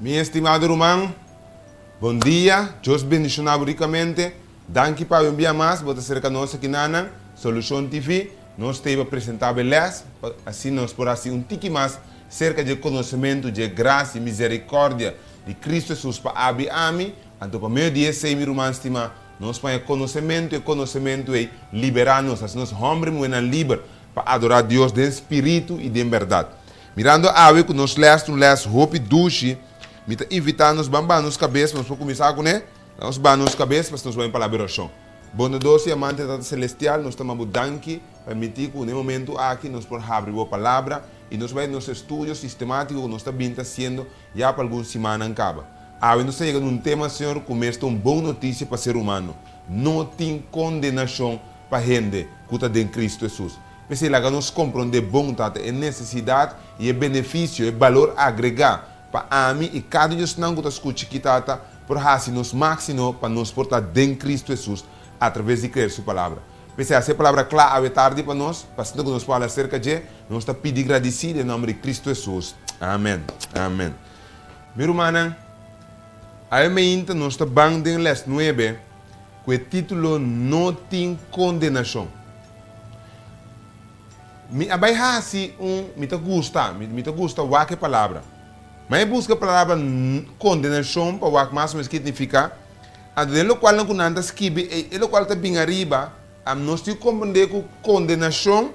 Mi estimado ruman, bon dia, Dios bendiciona bo ricamente. Danki pa haber bia mas bo ta cerca nos aki na nan Solucion TV. Nos ta ey pa presenta bo e les, pa asina nos por haci un tiki mas cerca dje conocemento dje gracia y misericordia di Cristo Jesús pa Abi y Ami. Anto pa medio di esey, mi ruman stima, nos paña conocemento y e conocemento ey libera nos, haci nos homber y muhernan liber. Pa adorá Dios den spiritu i den bèrdat. Mirando awe ku nos lès ta un lès hopi dushi, mi ta invitá nos ban baha nos kabes pa nos por kuminsá ku ne. Laga nos baha nos kabes pa sta nos bai un palabra di orashon. Bondadoso i amante Tata Selestial, nos ta ma bo danki pa permití ku na e momentu aki nos por habri bo Palabra i nos bai nos estudio sistemátiko ku nos ta bini ta hasiendo ya pa algun simannan kaba. Awe nos ta yega na un tema, Señor, ku mester un bon notisia pa ser humano, No tin kondenashon pa hende ku ta den Kristu Hesus. P'esei laga nos komprondé bon tabata e nesesidat i e benefisio, e balor agregá pa ami i kada diosnan ku ta skucha aki tabata por hasi nos máksimo pa nos por ta den Kristu Hesus atraves di krer Su Palabra. P'esei hasi e Palabra kla awe tardi pa nos, pa asinta ku nos por habla aserka dje, nos ta pidi gradisí den nòmber di Kristu Hesus. Amèn. Amèn. Mi rumannan, awe mainta nos ta ban den lès nuebe. Ku e titulo No tin kondenashon. Mi a bai hasi un, mi ta gusta, mi ta gusta wak e palabra. Ma e buska palabra kondenashon pa wak mas o menos ki nifika, anto den lokualnan ku nan ta skibi ei, e lokual ta bin ariba, nos tin ku komprendé ku kondenashon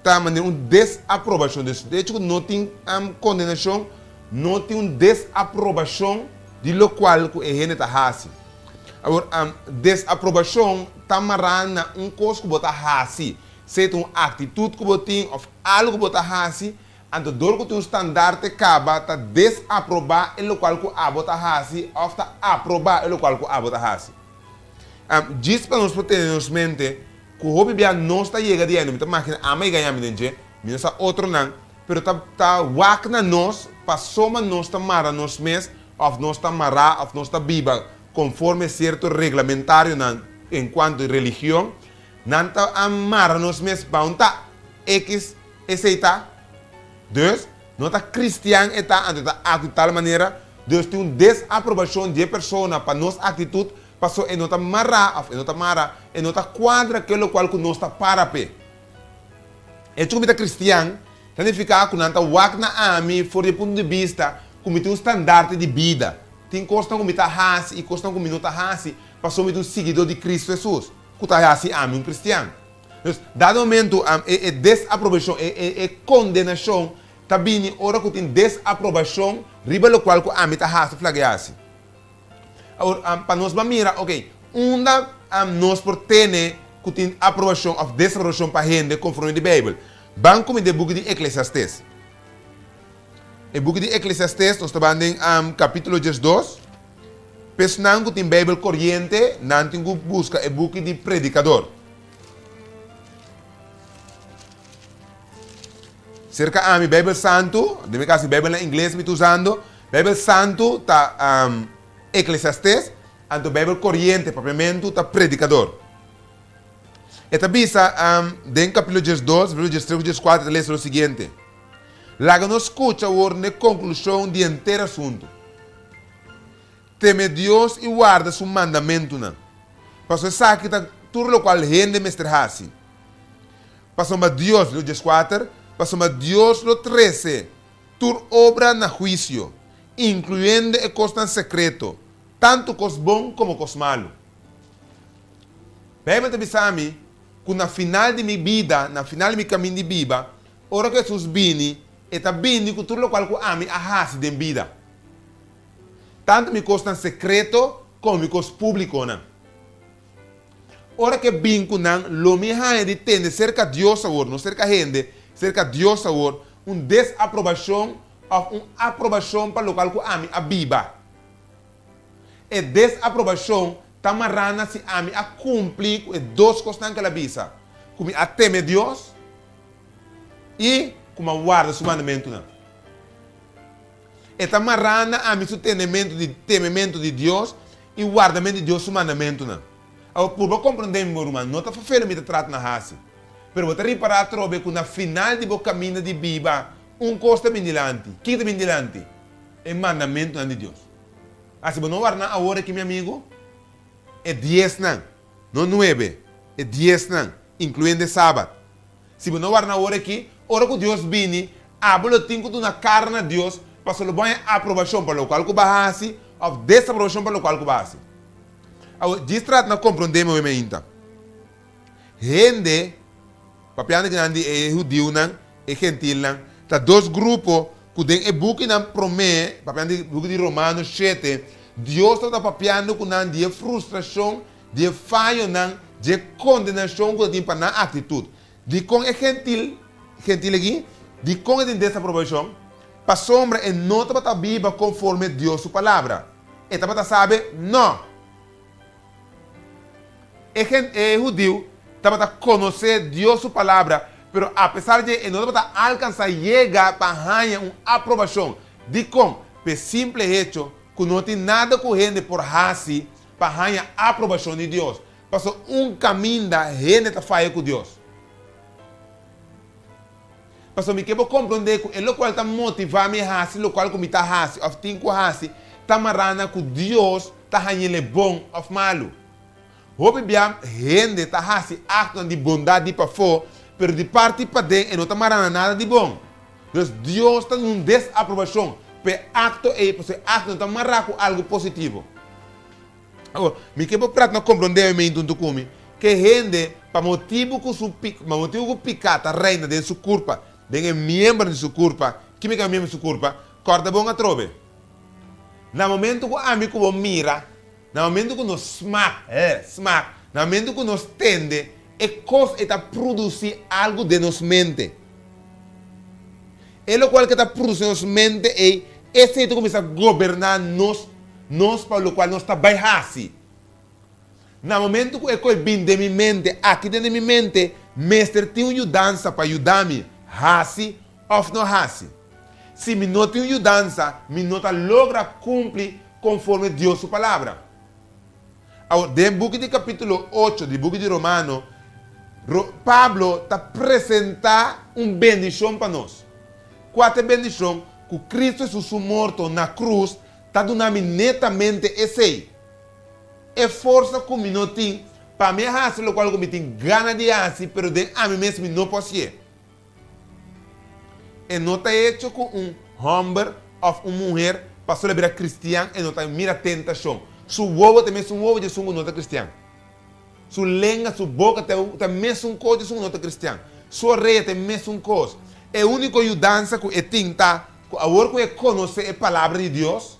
ta manera un desaprobashon. Dus e hecho ku no tin kondenashon, no tin un desaprobashon di lokual ku e hende ta hasi. Awor, desaprobashon ta mará na un kos ku bo ta hasi, sea ta un aktitut ku bo tin òf algu ku bo ta hasi. Anto dor ku tin un standarte kaba ta desaprobá e lokual ku abo ta hasi òf ta aprobá e lokual ku abo ta hasi. Djis pa nos por tene nos mente ku hopi bia nos ta yega di eni mi ta makina ama i gaña mi den dje, mi no sa otronan. Pero ta ta wak na nos pasobra nos ta mara nos mes of nos ta mará of nos ta biba conforme cierto reglamentarionan en cuanto religion, nan ta a mara nos mes bao ta X esey ta. Dus, no ta cristian e ta anto e ta actu tal manera, dus tin un desaprobacion di e persona pa nos actitud paso e no ta mará of e no ta mara, e no ta cuadra ke locual cu nos ta para p'e. Hecho ku mi ta kristian ta nifiká ku nan ta wak na ami for di e punto di bista ku mi tin un standarte di bida. Tin kosnan ku mi ta hasi i kosnan ku mi no ta hasi pasobra mi ta un siguidó di Kristu Hesus, ku ta hasi ami un kristian. Entonces, dado e momentu, e desaprobashon, e kondenashon ta bini ora ku tin desaprobashon riba lokual ku ami ta hasi flak di hasi. Awor, pa nos bo a mira, ok, unda nos por tene ku tin aprobashon òf desaprobashon pa hende konforme di Beibel? Ban kominsá den e buki di Eklesiastes. E buki di Eklesiastes, nos ta ban den kapítulo diesdos. P'esnan ku tin Beibel koriente, nan tin ku buska e buki di Predikador. Serka ami, Beibel Santu, den mi kas, mi Beibel na ingles mi ta usando, Bijbel Santu ta Eclesiastes, anto Bijbel Corriente, Papiamentu ta Predicador. E ta bisa den capítulo diesdos, verso diestres cu diescuater, e ta lesa lo siguiente, Laga nos scucha awor n'e conclusion di henter asuntu. Teme Dios i warda su mandamentunan, pasobra esaki ta tur locual hende mester haci. Pasobra Dios, verso diescuater, Pasobra Dios lo trece Tur obra na huisio, incluyendo e cosnan secreto, tantu cos bon como cos malu. Bijbel ta bisa mi cu na final di mi bida, na final di mi camin di biba, ora cu Jesus bini, E ta bini cu tur locual cu ami a haci den bida, tantu mi cosnan secreto como mi cos publiconan. Ora ke bin ku nan, lo mi haña di tende serka Dios awor, no serka hende, serka Dios awor, un desaprobashon òf un aprobashon pa lokal ku ami a biba. E desaprobashon ta mará na si ami a kumpli ku e dos kosnan ku el a bisa, ku mi a teme Dios i ku mi a warda su mandamentunan. E ta mará na ami su tenementu di temementu di Dios i wardamentu di Dios su mandamentunan. Awe, purba komprondé mi bo, ruman. No ta fafé lo mi ta trata na hasi. Pero bo ta ripará atrobe ku na final di bo kaminda di biba, un kos ta bin dilanti. Kiko ta bin dilanti? E mandamentunan di Dios. Asi bo no warda nan awor aki, mi amigu? E diesnan, no nuebe, e diesnan, inkluendo e Sabat. Si bo no wardá na ora aki, ora ku Dios bini, abo lo tin ku duna kara na Dios pasobra lo bòña aprobashon pa lokal ku bo a hasi òf desaprobashon pa lokal ku bo a hasi. Awe, djis trata na komprondé mi oemi ainta. Hende, papiando di nan di e hudiunan, e gentilnan, ta dos grupo ku den e bukinan promé, papiando di buki di Romano shete, Dios tabata papiando ku nan di e frustrashon di e fayonan, di e kondenashon ku ta tin pa nan aktitut, di kon e gentil gentil aki, di kon e tin desaprobashon, pasobra e no tabata biba konforme Dios su palabra. E tabata sabi, No! E gen e hudiu tabata konosé Dios su palabra, pero apesar dje e no tabata alkansá yega pa haña un aprobashon. Dikon? P'e simple hecho ku no tin nada ku hende por hasi pa haña aprobashon di Dios, paso un kaminda hende ta faya ku Dios. Paso mi ke bo komprondé ku e lokual ta motivá mi hasi lokual ku mi ta hasi òf tin ku hasi ta mará na ku Dios ta hañ'el'e bon òf malu. Hopi bia hende ta hasi aktonan di bondat di pafó, pero di parti paden e no ta mará na nada di bon. Nos Dios ta nun desaprobacion pa e acto ey pasobra e acto no ta mará cu algo positivo. Awor, mi ke bo prata na comprondeemen junto cu mi, ke hende pa motibu cu su pa motibu cu picá ta reina den su curpa, den e miembronan di su curpa, kime ke miembro di su curpa? Corda bon atrobe. Na momento cu ami cu bo mira Na momentu ku nos smak, he, smak, na momentu ku nos tende e kos e ta prudusi algu den nos mente. E lokual ke ta prudusi den nos mente ei, esei ta kuminsá goberná nos, nos pa lokual nos ta bai hasi. Na momentu ku e kos bini den mi mente, aki den di mi mente mester tin un yudansa pa yuda mi hasi òf no hasi. Si mi no tin un yudansa, mi no ta logra kumpli konforme Dios su Palabra. Awor, den buki di kapítulo ocho di buki di Romano, Pablo ta presentá un bendishon pa nos. Kua ta e bendishon? Ku Kristu Hesus su morto na krus ta duna mi netamente esei, e forsa ku mi no tin pa mi a hasi lokual ku mi tin gana di hasi, pero den ami mes mi no por si'é. E no ta hecho cu un homber of un muher pa solo bira cristian, e no ta mira tentacion. Su wowo ta mesun wowo djesun cu no ta cristian. Su lenga, su boca ta ta mesun cos djesun cu no ta cristian. Su oreya ta mesun cos. E unico yudansa cu e tin ta cu awor cu e conoce e Palabra di Dios,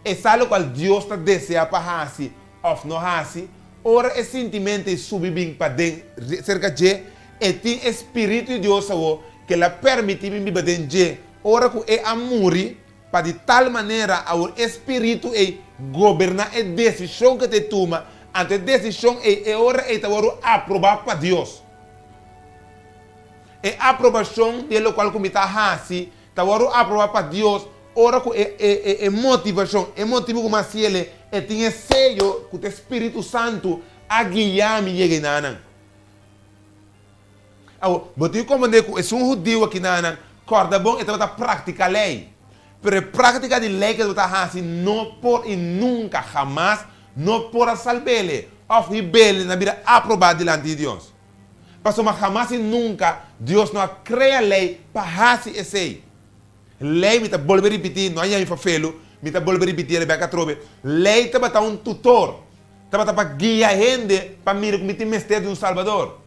E sa lokual Dios ta desea pa hasi òf no hasi. Ora e sintimento ei subi bin paden serka dje, e tin e spiritu di Dios awor ke el a permití bin biba den dje. Ora ku e a muri, pa di tal manera awor e spiritu ei goberná e desishon ku ta e tuma, anto e desishon ei e ora ei ta wòrdu aprobá pa Dios. E aprobashon di e lokual ku mi ta hasi Ta wòrdu aprobá pa Dios ora ku e e motivashon, e motibu ku mi a sia'le, e tin e seyo ku ta e spiritu santu a guia mi yega enanan. Awo, bo tin ku komprendé ku esun hudiu aki nanan, kòrda bon, e tabata praktika lei. Pero e praktika di lei ku e tabata hasi no por i nunka, hamas, no por a salb'ele òf hib'ele na bira aprobá dilanti di Dios. Pasobra hamas i nunka Dios no a krea lei pa hasi esei. Lei, mi ta bolbe ripití, no a yaña mi pa felu, mi ta bolbe ripití el bèk atrobe, lei tabata un tutor, tabata pa guia hende pa mira ku mi tin mester di un Salbador,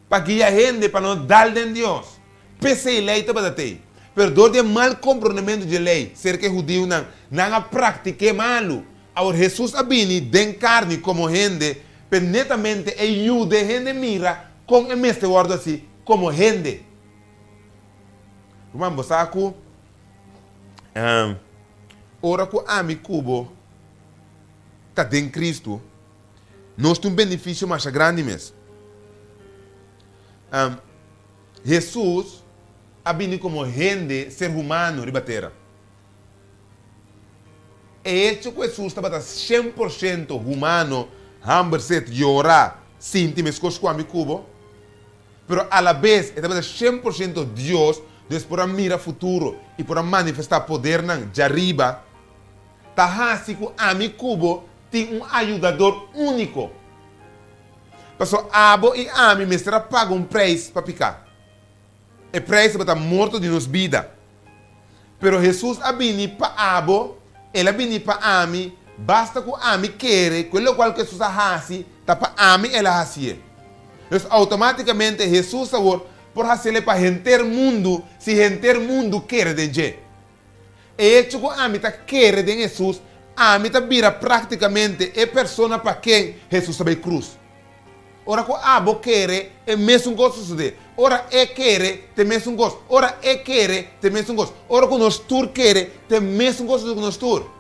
pa guia hende pa no dal den Dios. P'esei lei tabata t'ei. Pero dor di e mal komprondementu di e lei serka e hudiunan, nan a praktik'é malu. Awor Hesus a bini den karni komo hende, p'e netamente e yuda e hende mira kon e mester wòrdu así komo hende. Ruman, bo sa ku ora ku ami ku bo ta den Kristu, nos tin un benefisio masha grandi mes. Hesus a bini komo hende, ser humano, riba tera. E hecho ku Hesus tabata shen por shento humano, hamber, set, yora, sinti meskos ku ami ku bo, pero alabes e tabata shen por shento Dios, Dios por a mira futuro i por a manifestá podernan dja riba, ta hasi ku ami ku bo tin un ayudador úniko. Pasobra abo i ami mester a paga un preis pa piká. E preis tabata morto di nos bida. Pero Hesus a bini pa abo, el a bini pa ami, basta ku ami kere ku e lokual ku Hesus a hasi ta pa ami el a hasié. Pues outomátikamente Hesus awor por hasié lei pa henter mundu si henter mundu kere den dje. E hecho cu ami ta kere den Hesus, ami ta bira practicamente e persona pa ken Hesus ta bay cruz. Ora cu abo kere, e mesun cos ta sucede. Ora E kere, ta e mesun cos. Ora E kere, ta e mesun cos. Ora cu nos tur kere, ta e mesun cos sucede cu nos tur.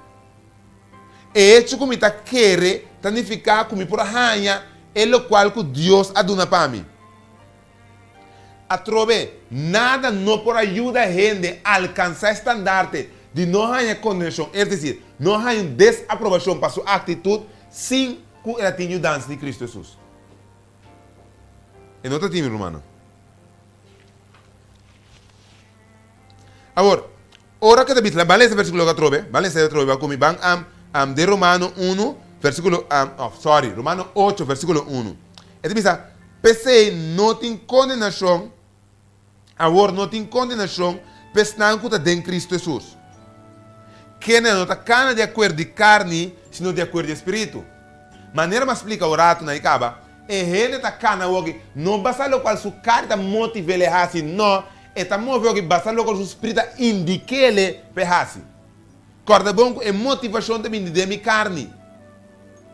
E hecho cu mi ta kere ta nifica cu mi por haña e locual cu Dios a duna pa mi. Atrobe, nada no por a yuda hende alkansá e standarte di no haña kondenashon, es desir, no haña un desaprobashon pa su aktitut sin ku el a tin yudansa di Kristu Hesus. E no ta tin, mi rumannan. Awor, ora ke David fla, Ban lesa versíkulo ak atrobe, ban lesa e atrobe ba ku mi, ban am, am de Romano unu, versíkulo, am, òf, sòri, Romano ocho, versíkulo unu, e ta bisa, P'esei no tin kondenashon, awor no tin kondenashon p'esnan ku ta den Kristu Hesus, ke nan no ta kana di akuerdo di karni, sino di akuerdo di e Spiritu. Manera mas splika ora atu nan e kaba, e hende ta kana awor ki no basa lokual su karni ta motiv'el e hasi, nò, E ta move oki basta loke su sprit a indik'ele pa e hasi. Kòrda bon ku e motivashon ta bini den mi karni,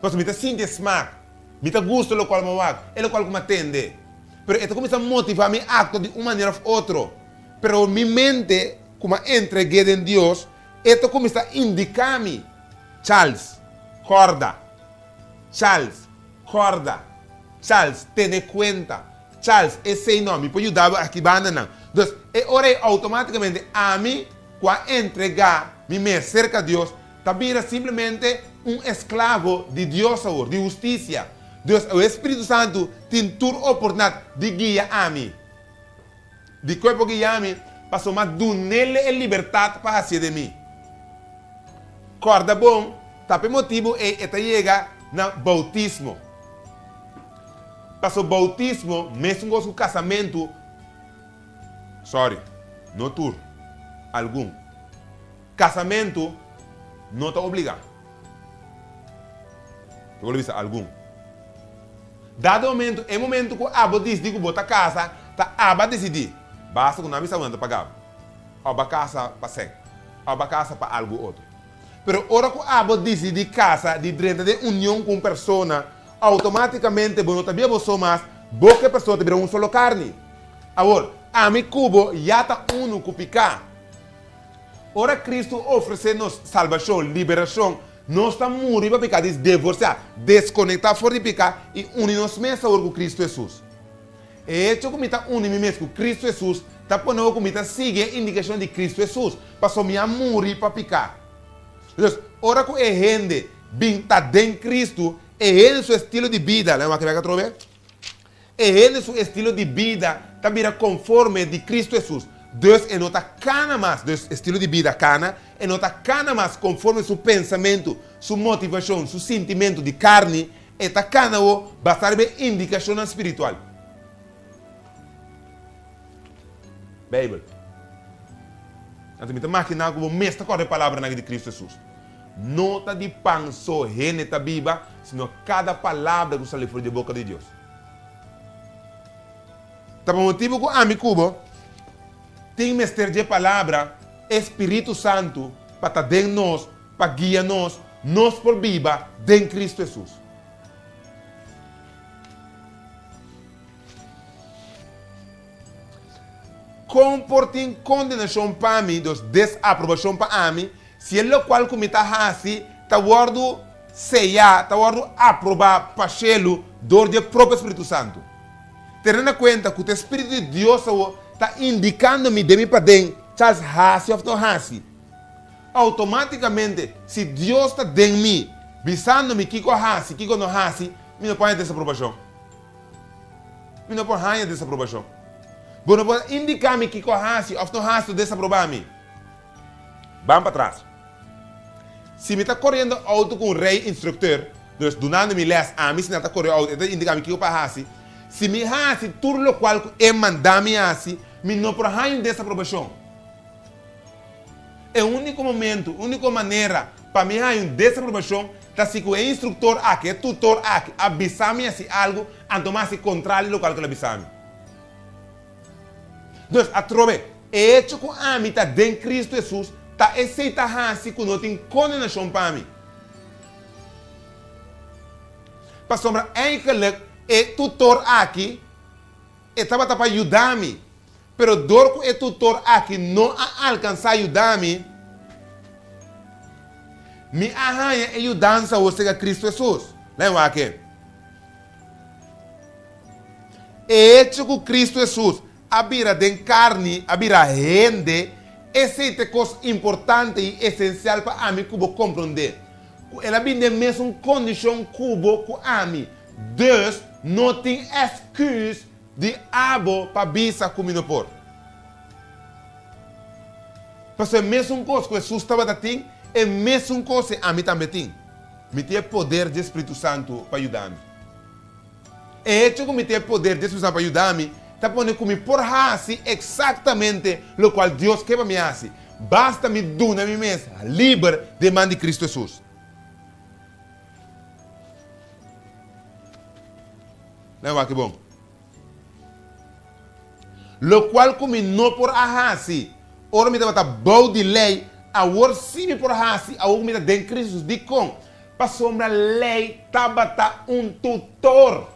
pasobra mi ta sinti e smak, mi ta gusta lokual mi wak, e lokual ku mi a tende. Pero e ta kuminsá motivá mi akto di un manera òf otro. Pero mi mente ku mi a entreg'é den Dios, e ta kuminsá indiká mi. Charles, Kòrda, Charles, kòrda, Charles, tene kuenta, Charles, Esei no, mi por yudabo aki banda nan. Entonces, e ora ei automáticamente ami cu a entregá mi mes cerca Dios ta bira simplemente un esclavo di Dios awor, di husticia. Entonces, awe e Spiritu Santu tin tur oportunidad di guia ami. Di cuerpo ki ya mi, pasobra dunele e libertad pa hacié den mi. Corda bon, ta p'e motibu ei e ta yega na bautismo. Paso bautismo, mescos cu casamentu, sorry, no tur, algun. Casamentu no ta obligá. Lo bo lo bisa algun. Dado e momentu, e momentu cu abo disdi cu bo ta casa, ta aba dicidí, basta cu nan bisa cu nan ta pagabo. O ba casa pa sec. O ba casa pa algu otro. Pero ora cu abo dicidí casa di drenta den union cu un persona, automaticamente bo no ta bia bo so mas, bo cu e persona ta bira un solo carni. Awor, ami cu bo ya ta uno cu pica. Ora Kristu ofresé nos salbashon, liberashon, nos ta muri pa peká di devorsiá, deskonektá for di peká i uni nos mes awor ku Kristu Hesus. E hecho ku mi ta uni mi mes ku Kristu Hesus ta pone awor ku mi ta sigui e indikashon di Kristu Hesus, pasobra mi a muri pa peká. Entos, ora ku e hende bin ta den Kristu, e hende su estilo di bida lo a wak kebek atrobe. E hende su estilo di bida ta bira conforme di Cristo Hesus, dus e no ta cana mas, dus estilo di bida cana, e no ta cana mas conforme su pensamentu, su motivacion, su sintimentu di carni, e ta cana awo basa riba e indicacionnan spiritual. Bijbel. Anto mi ta makiná cu bo mes ta corda e palabranan aki di Cristo Hesus, No ta di pan so hende ta biba, sino kada palabra ku sali for di e boka di Dios. Ta pa motibu ku ami ku bo tin mester dje palabra, e spiritu santu pa ta den nos pa guia nos, nos por biba den Kristu Hesus. Kon por tin kondenashon pa mi, dus desaprobashon pa ami, si e lokual ku mi ta hasi ta wòrdu seyá, ta wòrdu aprobá pa shelu dor di e propio Spiritu Santu? Tene na kuenta ku ta e Spiritu di Dios awor ta indikando mi den mi paden chals hasi òf no hasi. Outomátikamente, si Dios ta den mi, bisando mi kiko hasi, kiko no hasi, mi no pone desaprobashon. Mi no por haña desaprobashon. Bo no por indiká mi kiko hasi òf no hasi ta desaprobá mi. Ban patras. Si mi ta koriendo outo ku un rei-instruktor, dus dunando mi lès, ami si nan ta kore outo, e ta indiká mi kiko pa hasi. Si mi hasi tur lokual ku e manda mi hasi, mi no por haña un desaprobashon. E úniko momentu, úniko manera pa mi haña un desaprobashon ta si ku e instruktor aki, e tutor aki, a bisa mi hasi algu anto mi a hasi kontrali di lokal ku el a bisa mi. Entonces, atrobe, e hecho ku ami ta den Kristu Hesus ta esei ta hasi ku no tin kondenashon pa mi. Pasobra, eigelijk, e tutor aki e tabata pa yuda mi Pero dor ku e tutor aki no a alkansá yuda mi, mi a haña e yudansa wou sega Kristu Hesus. Lae wak-e. E hecho ku Kristu Hesus a bira den karni, a bira hende, esei ta e kos importante i esensial pa ami ku bo komprondé, ku el a bini den mesun kondishon ku bo ku ami. Dus, no tin èsküs Di abo pa bisa ku mi no por. Pasobra e mesun kos ku Hesus tabata tin, e mesun kosnan ami tambe tin. Mi tin e poder di e Spiritu Santu pa yuda mi. E hecho ku mi tin e poder di e Spiritu Santu pa yuda mi ta pone ku mi por hasi eksaktamente lokual Dios ke pa mi hasi, basta mi duna mi mes liber den man di Kristu Hesus. Mira awaki bon. Lokual ku mi no por a hasi ora mi tabata bou di lei, awor sí mi por hasi awor ku mi ta den Kristus. Dikon? Pasobra lei tabata un tutor,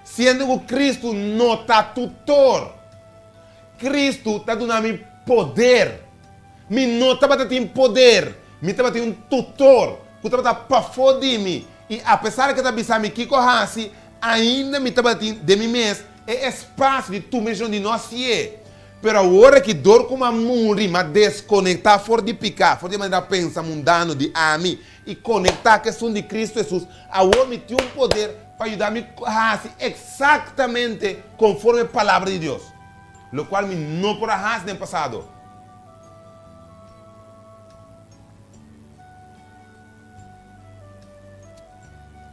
siendo ku Kristu no ta tutor. Kristu ta duna mi poder Mi no tabata tin poder. Mi tabatin un tutor cu tabata pafó di mi y apesar cu e ta bisa mi kico haci, ainda mi tabatin den mi mes e espacio di tur mision di no sié. Pero awor aki dor cu m'a muri, m'a desconectá for di picá, for di e manera pensa mundano di ami y conectá cu esun di Cristo Jesús, awor mi tin un poder pa yuda mi haci exactamente conforme e Palabra di Dios. lo cual mi no por a haci den pasado.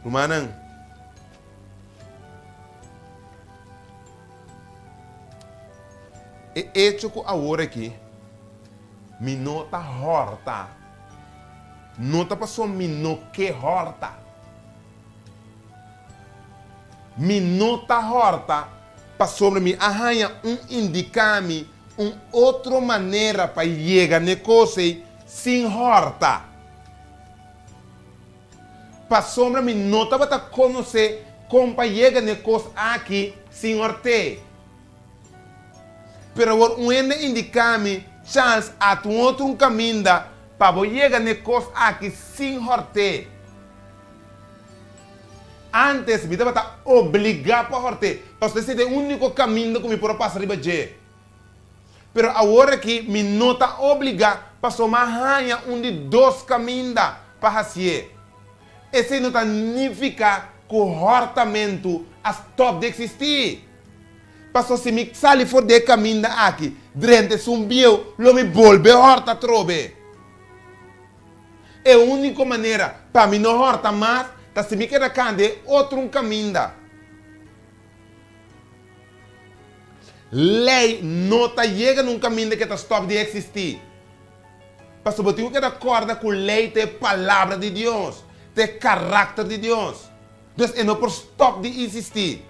Rumannan, e hecho cu awor aki mi no ta horta, no ta pasobra mi no ke horta. Mi no ta hòrta pasobra mi a haña un indiká mi un otro manera pa yega n'e kos ei sin hòrta. Pasobra mi no tabata konosé kon pa yega n'e kos aki sin hòrt'é. Pero awor un hende a indiká mi, Charles, atu un otro un kaminda pa bo yega n'e kos aki sin hòrt'é. Antes mi tabata obligá pa horté pasobra esei ta e úniko kaminda ku mi por a pasa riba dje. Pero awor aki mi no ta obligá pasobra mi a haña un di dos kaminda pa hasié. Esei no ta nifiká ku hòrtamentu a stòp di eksistí. Pasobra si mi sali for di e kaminda aki drenta esun bieu, lo mi bolbe hòrt atrobe. E úniko manera pa mi no hòrta mas ta si mi keda kanta e otro un kaminda. Lei no ta yega na un kaminda ke ta stòp di eksistí. Pasobra bo tin ku keda kòrda ku lei ta e Palabra di Dios, ta e karakter di Dios. Entonces e no por stòp di insistí.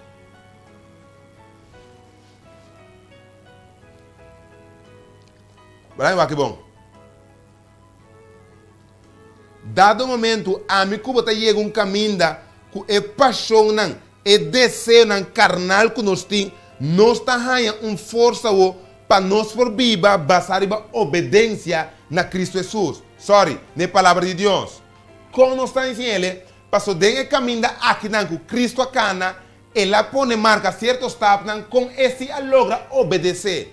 Bra mi wak aki bon. Dado un momentu, ami ku bo ta yega un kaminda ku e pashonnan, e deseonan karnal ku nos tin. Nos ta haña un forsa awor pa nos por biba basá riba obedensia na Kristu Hesus. Sòri, na e Palabra di Dios. Kon nos ta hasi el? Pasobra den e kaminda akinan ku Kristu a kana, el a pone marka sierto stapnan kon e si a logra obedesé.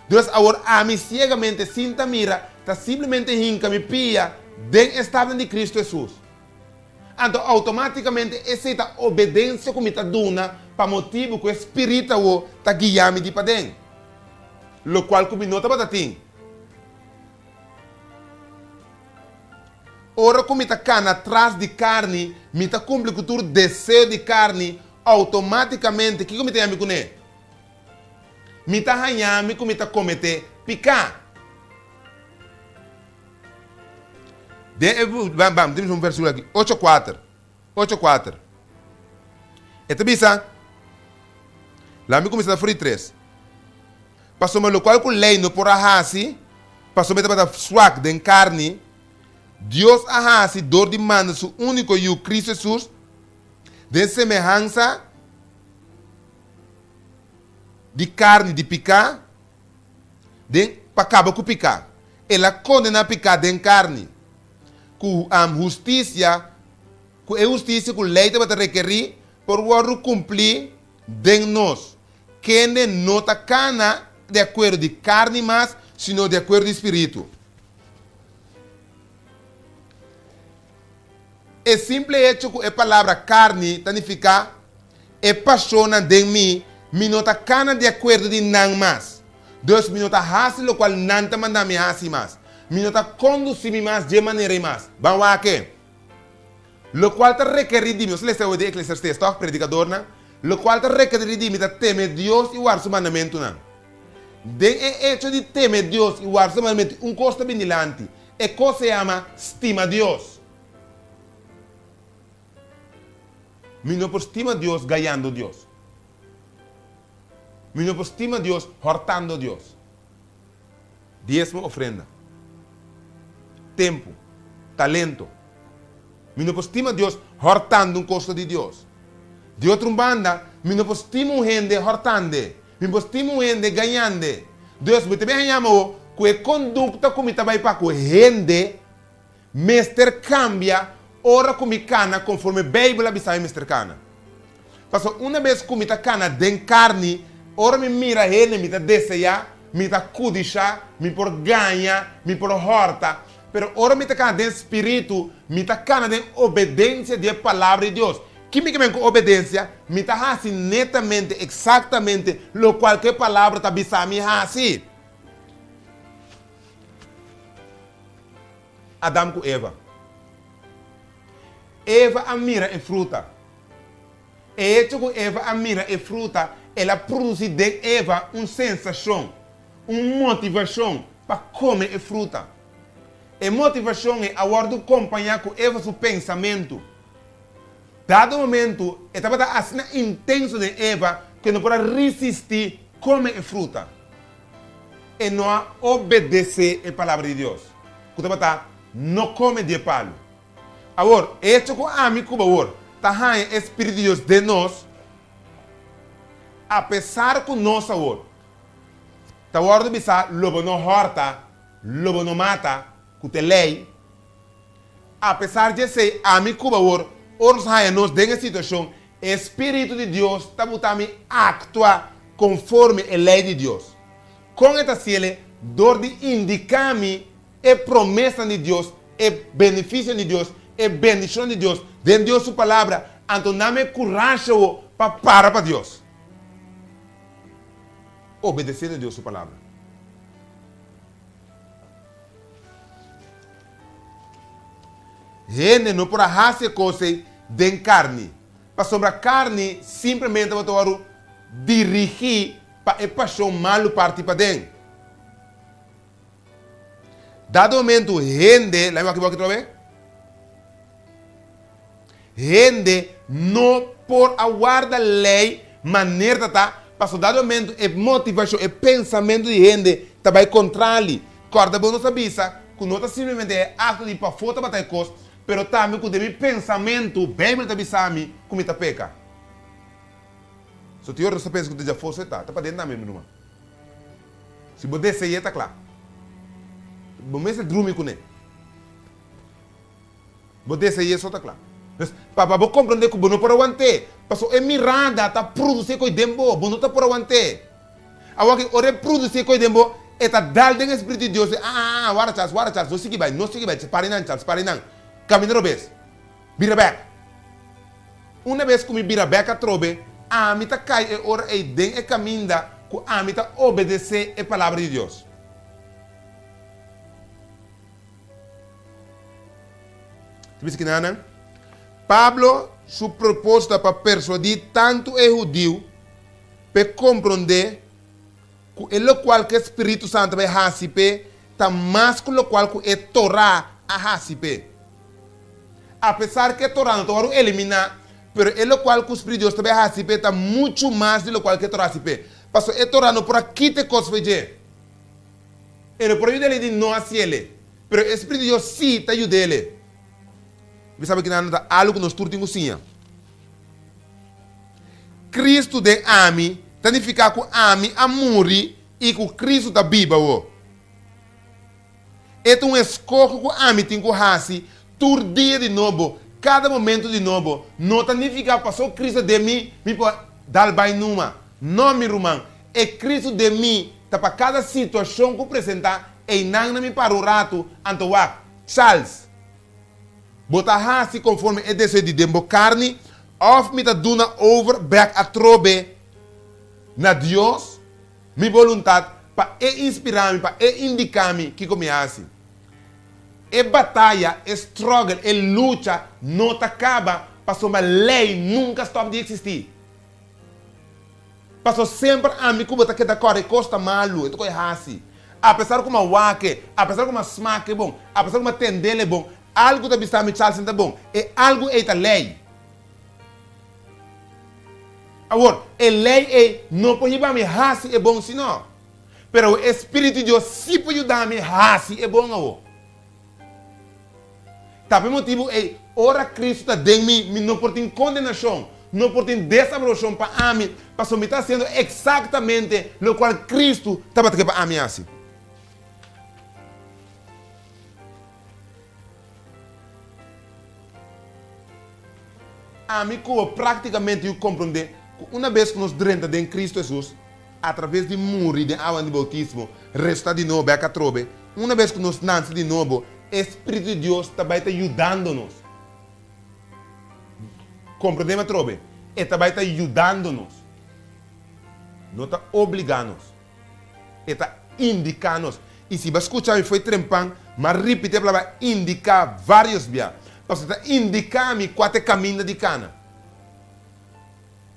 Dios awor ami siegamente sin ta mira ta simplemente hinca mi pia den e stapnan di Cristo Hesus. Anto automaticamente esey ta obedencia cu mi ta duna pa motibu cu e Spirit awor ta guia mi di paden, locual cu mi no tabata tin. Ora cu mi ta cana tras di carni, mi ta cumpli cu tur deseo di carni, automaticamente kico mi ta yami cune? Mi ta hañá mi ku mi ta kometé piká. Den e, bam, bam, tin un vèrsikulo aki, ocho kuater, ocho kuater. E ta bisa, Laga mi kuminsá ta fri tres. Pasobra lokual ku lei no por a hasi, pasobra e tabata swak den karni, Dios a hasi dor di manda Su úniko Yu, Kris Hesus, den semehansa. di carni di pica den pa caba cu pica. El a condena pica den carni cu am husticia, cu e husticia cu ley tabata requeri por wordo cumpli den nos, kende no ta cana di acuerdo di carni mas, sino di acuerdo di spiritu. E simple hecho cu e palabra carni ta nifica e pasionnan den mi, mi no ta cana di acuerdo di nan mas. Dus mi no ta haci locual nan ta manda mi haci mas. Mi no ta conduci mi mas dje manerei mas. Ban wak-e. Locual ta requeri di mi, nos ta lesa awor den Eclesiastés toch, predicadornan? Locual ta requeri di mi ta teme Dios i warda su mandamentunan. Den e hecho di teme Dios i warda su mandamentu un cos ta bini lanti, E cos e ama stima Dios. Mi no por stima Dios gayando Dios. Mi no por stima Dios hortando Dios. Diezmo ofrenda, tempu, talento. Mi no por stima Dios hortando un cosa di Dios. Di otro un banda, mi no por stima un hende hortande. Mi bo stima un hende gañande. Dus, mi ta bin a haña mi ku e kondukta ku mi ta bai pa ku hende mester kambia ora ku mi kana konforme Beibel a bisa mi mester kana. Pasobra una bes ku mi ta kana den karni, ora mi mira hende mi ta deseá, mi ta kudishá, mi por gaña, mi por hòrta. Pero ora mi ta kana den spiritu, mi ta kana den obedensia di e Palabra di Dios, Kimi ke men ku obedesia mi ta hasi netamente, eksaktamente, lo kual ku e Palabra ta bisa mi hasi? Adam ku Eva. Eva a mira e fruta. E hecho ku Eva a mira e fruta el a produsi den Eva un sensashon, un motivashon pa kome e fruta. E motivashon ei a wòrdu kompañá ku Eva su pensamentu. Dado momento, e tabata asina intenso den Eva ku e no por a risistí kome e fruta. E no a obedesé e palabra di Dios, ku tabata, No kome di e palu. Awor, echo ku ami ku bawor ta haña e Spiritu di Dios den nos, apesar ku nos awor ta wòrdu bisá lo bo no hòrta, lo bo no mata, ku ta e lei, A pesar di esei, ami Cuba hoor oros haya nos den e situacion, e spiritu di Dios ta buta mi actua conforme e ley di Dios. Con e ta hacele? Door di indica mi e promesnan di Dios, e beneficion di Dios, e bendicion di Dios den Dios su Palabra, anto na me curashi awo pa para pa Dios, obedeciendo Dios su Palabra. Hende no por a hasi e kos ei den karni, pasobra karni simplemente bo ta wòrdu dirigí pa e pashon malu parti paden. Dado momentu hende, laimi wak i bo aki trobe. Hende no por a warda lei maner ta ta, pasobra dado momento e motivashon, e pensamentu di hende ta bai kontrá li. Kòrda bo nos a bisa ku no ta simplemente e akto di pafó tabata e kos, pero tambe ku den mi pensamentu Beibel ta bisa mi ku mi ta peka. So tin ora nos ta pensa ku ta djafó so e ta, ta paden tambe mi ruman. Si bo dese'é ta kla, bo mester drumi kuné. Bo desea i eso ta cla. Pues, pa pa bo comprende cu bo no por aguant'e, pasobra e mirada ta produci e coy den bo, bo no ta por aguant'e. Awor aki, ora e produci e coy den bo, e ta dal den e Spiritu di Dios, ah, ah, ah, wara Charles, wara Charles, no sigui bay, no sigui bay, separa e nan, Charles, separa e nan, camina robes, bira bek. Una bes cu mi bira bek atrobe, ami ta cay e ora ey den e caminda cu ami ta obedece e Palabra di Dios. Ta bisa ki na nan? Pablo su propósito ta pa persuadí tantu e hudiu pa e komprondé ku e lokual ku e spiritu santu bai hasi p'e ta mas ku lokual ku e Torá a hasi p'e. Apesar ku e Torá no ta wòrdu eliminá, pero e lokual ku spiritu di Dios ta bai hasi p'e ta muchu mas di lokual ku e Torá a hasi p'e, pasobra e Torá no por a kita e kosnan p'e dje. E lo por a yud'é di no hasi el'é, pero e Spiritu di Dios sí ta yud'é el'é. Mi sabi ki nan no ta algu ku nos tur tin ku siña. Kristu den ami ta nifiká ku ami a muri i ku Kristu ta biba awor. E ta un eskohe ku ami tin ku hasi tur dia di nobo, kada momentu di nobo. No ta nifiká ku paso Kristu den mi, mi por dal bai numa. No, mi ruman. E Kristu den mi Ta pa kada situacion cu presenta einan na mi para un ratu anto wak. Charles, Bo ta haci conforme e deseo di den bo carni of mi ta duna over bek atrobe na Dios mi boluntad pa E inspira mi, pa E indica mi kico mi haci? E bataya, e struggle, e lucha no ta caba pasobra ley nunca stop di existi. Paso semper ami ku bo ta keda kore kos ta malu, e tok e hasi. Apesar ku m'a wake, apesar ku m'a smake bon, apesar ku m'a tendele bon, algu ta bisa mi chalsen ta bon, e algu ei ta lei. Awor, e lei ei no por hibami hasi e bon si no, pero awor e Spiritu di Dios si por yudami hasi e bon awor. Ta p'e motibu ei, ora Kristu ta den mi, mi no por tin kondenashon, no por tin desaprobashon pa ami, pasobra mi ta hasiendo eksaktamente lokual Kristu tabata ke pa ami hasi. Ami ku bo práktikamente yu komprondé ku unabes ku nos drenta den Kristu Hesus, Atraves di muri den awa di boutismo, resusitá di nobo bèk atrobe, una bes ku nos nanse di nobo, e Spiritu di Dios ta bai ta yudando nos. Komprondéme atrobe, E ta bai ta yudando nos. No ta obligá nos. E ta indiká nos. I si bo a skucha mi fo'i trempan, mi a ripití e palabra indiká vários bia, pasobra e ta indiká mi kua ta e kaminda di kana.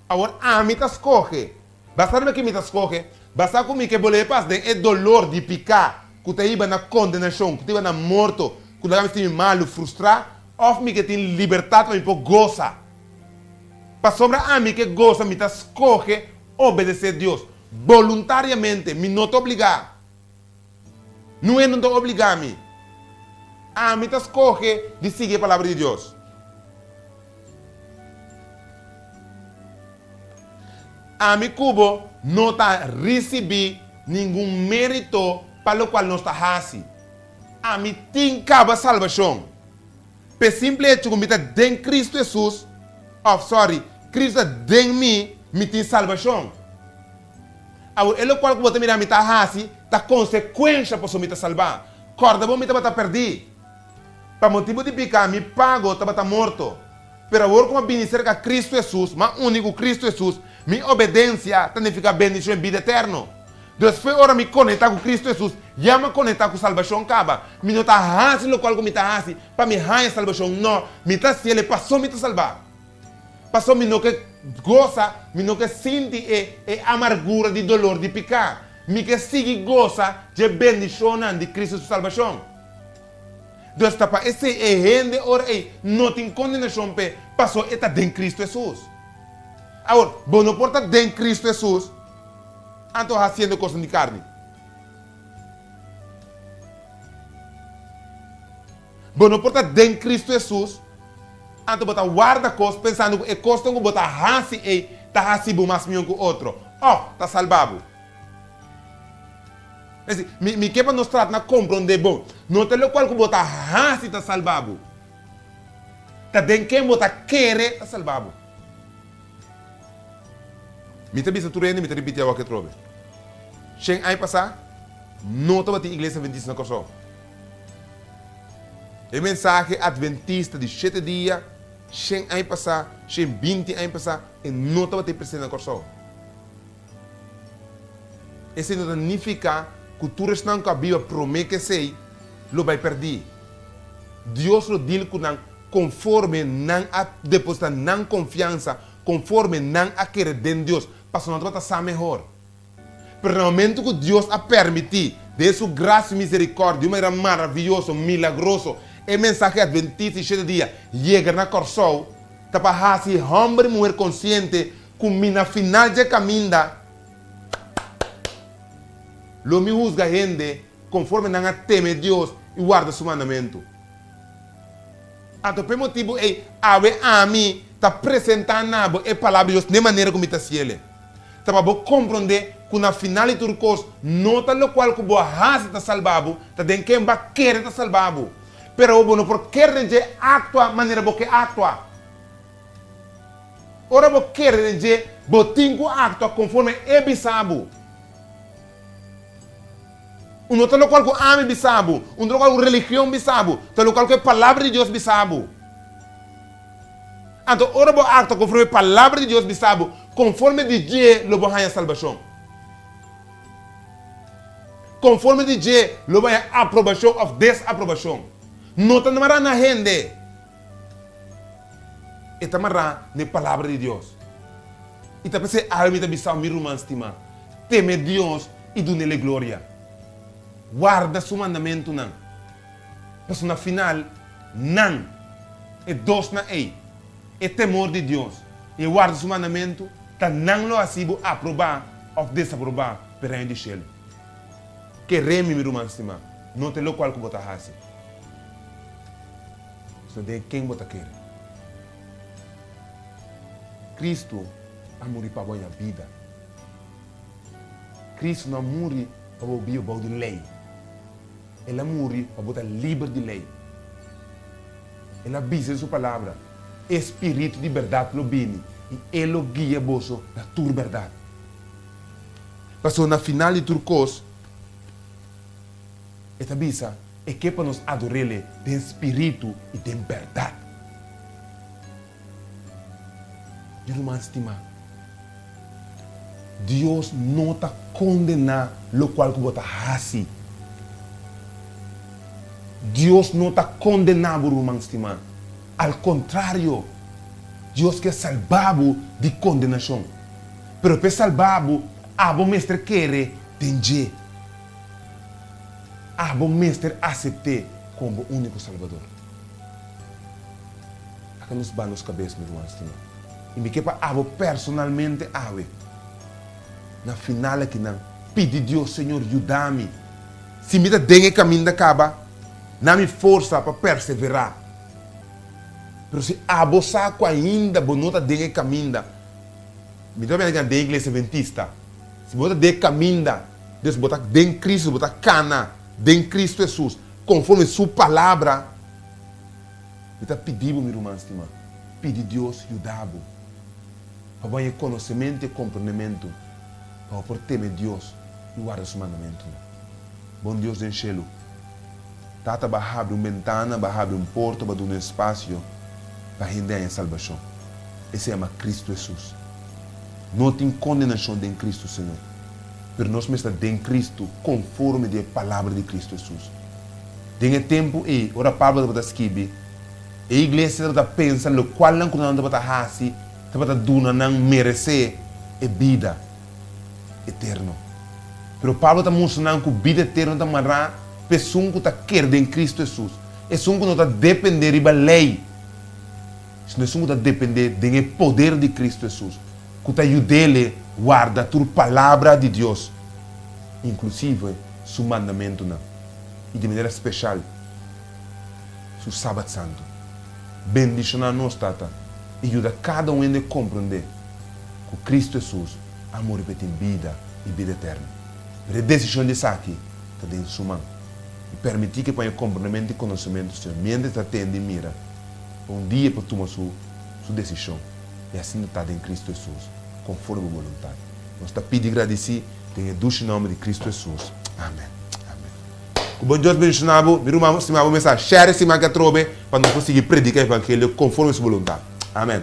Awor ami ta skohe. Basta riba ke mi ta skohe, basta ku mi ke bole e pas den e dolor di piká, ku ta hiba na kondenashon, ku ta hiba na morto, ku laga mi sinti malu, frustrá, òf mi ke tin libertat pa mi por gosa. Pasobra ami ke gosa, mi ta skohe obedesé Dios, boluntariamente, mi no ta obligá. No hende no ta obligá mi. Ami ta skohe di sigui e palabra di Dios. Ami ku bo no ta risibí ningun mérito pa lokual nos ta hasi. Ami tin kaba salbashon pa e simpel hecho ku mi ta den Kristu Hesus, òf sòri, Kristu ta den mi, mi tin salbashon. Awor, e lokual ku bo ta mira mi ta hasi ta konsekuensia pasobra mi ta salbá. Kòrda bo, mi tabata pèrdí. Pa motibu di piká, mi pago tabata morto. Pero awor ku mi a bini serka Kristu Hesus, mi a uni ku Kristu Hesus, mi obedensia ta nifiká bendishon i bida eterno. Despues, ora mi konektá ku Kristu Hesus, ya mi a konektá ku salbashon kaba. Mi no ta hasi lokual ku mi ta hasi pa mi haña salbashon, nò, mi ta hasiel e pasobra mi ta salbá. Pasobra mi no ke gosa, mi no ke sinti e e amargura di dolor di piká. Mi ke sigui gosa dje bendishonnan di Kristu su salbashon. Dor sta pa esei e hende ora ei no tin kondenashon p'e pasó e ta den Kristu Hesus. Awor, bo no por ta den Kristu Hesus anto hasiendo kosnan di karni. Bo no por ta den Cristo Hesus anto bo ta warda kos pensando ku e kosnan ku bo ta hasi ei ta hasi bo mas mion ku otro òf ta salba bo. Esei, mi mi ke pa nos trata na komprondé bon. No ta lokual ku bo ta hasi ta salba bo. Ta den ken bo ta kere ta salba bo. Mi ta bisa tur hende, mi ta ripiti awak e atrobe. Shen ai pasá no tabatin Iglesia Adventista na Kòrsou. E mensahe adventista di shete dia, shen aña pasá, shen binti aña pasá, e no tabatin presente na Kòrsou. Esei no ta nifiká ku tur esnan ku a biba promé ku esei lo bai pèrdí. Dios lo dil ku nan konforme nan a depositá nan konfiansa, konforme nan a kere den Dios, pasobra nan tabata sa mehor. Pero na momentu ku Dios a pèrmití, den su grasia i miserikòrdia, di un manera maravioso, milagroso, e mensahe adventista di shete dia yega na Kòrsou, ta pa hasi hòmber i muher konsiente ku mi na final dje kaminda. Lo mi husga hende konforme nan a teme Dios i warda su mandamentu. Anto p'e motibu ei, awe ami ta presentá na bo e Palabra di Dios den manera ku mi ta siel e. Ta pa bo komprondé ku na final di tur kos, no ta lokual ku bo a hasi ta salba bo, ta den ken bo a kere ta salba bo. Pero awor bo no por kere den dje aktua manera bo ke aktua. Ora bo kere den dje, bo tin ku aktua konforme e bisa bo. Un no ta lokual ku ami bisa bo, un no ta lokual ku religion bisa bo, ta lokual ku e Palabra di Dios bisa bo. Anto, ora bo aktua konforme e palabra di Dios bisa bo, konforme di dje lo bo haña salbashon. Konforme di dje lo bo haña aprobashon òf desaprobashon. No ta mará na hende, e ta mará na e palabra di Dios. I ta p'esei algu mi ta bisau mi ruman stimá, teme Dios i dun'El e gloria. Warda Su mandamentunan. Pasobra na final, nan, e dosnan ei, e temor di Dios i e warda su mandamentu, ta nan lo hasi bo aprobá òf desaprobá pa e Reino di shelu. Keré mi, mi ruman stimá, no ta lokual ku bo ta hasi, sino den ken bo ta kere. Kristu a muri pa bo haña bida. Kristu no a muri pa bo biba bou di lei. El a muri pa bo ta liber di ley. El a bisa den su Palabra, E Spiritu di berdad lo bini i e lo guia boso na tur berdad. Pasobra na final di tur cos, E ta bisa, e ke pa nos ador'El den spiritu i den berdad. Mi ruman stimá, Dios no ta kondená lokual ku bo ta hasi. Dios no ta kondená bo, ruman stimá. Al kontrario, Dios ke salbá bo di kondenashon. Pero pa e salbá bo, abo mester kere den dje. Abo mester asept'é komo bo úniko Salbador. Aka nos ba nos kabes, mi ruman stima. I mi ke pa abo personalmente awe, na final akinan, pidi Dios, Señor, yuda mi. Si mi ta den e kaminda kaba, na mi forsa pa perseverá. Pero si abo sa ku ainda bo no ta den e kaminda, mi ta biaha den e iglesia Adventista. Si bo no ta den e kaminda, dus bo ta den Cristo, bo ta kana den Cristo Hesus. Conforme su Palabra, mi ta pidi bo, mi ruman stima, pidi Dios yuda bo pa bo haña conocemento y comprendementu, pa bo por teme Dios y warda su mandamentunan. Bon Dios den cielu, Tata, bo a habri un bentana, bo a habri un porta, bo a duna un espacio pa hende haña salbacion. E se yama Cristo Jesus. No tin condenacion den Cristo, Señor. pero nos mester den Cristo conforme di e palabra di Cristo Hesus. Den e tempu ei, ora Pablo tabata skibi, e iglesia tabata pensa locualnan cu nan tabata haci tabata duna nan merece e bida eterno. Pero Pablo ta mustra nan cu bida eterno ta mará pa esun cu ta ker den Cristo Hesus, esun cu no ta depende riba ley. Si no esun ku ta dependé den e poder di Kristu Hesus, ku ta yud'Ele warda tur Palabra di Dios, inklusive Su mandamentunan, i di manera speshal Su Sabat Santu. Bendishoná nos, Tata, i yuda kada un hende komprondé ku Kristu Hesus a muri pa e tin bida i bida eterno. Pero e desishon di esaki ta den Su man. I pèrmití ku e pon e komplementu di konosementu, Señor, miéntras E ta tende i mira. Un dia e por tuma su su desishon, i asina ta den Kristu Hesus, konforme bo boluntat. Nos ta pidi i gradisí den e dushi nòmber di Kristu Hesus. Amèn. Amèn. Ku bon Dios bendishoná bo, mi ruman stimá, bo mes a share e siman ke atrobe pa nos por sigui predika e evangelio konforme su boluntat. Amèn.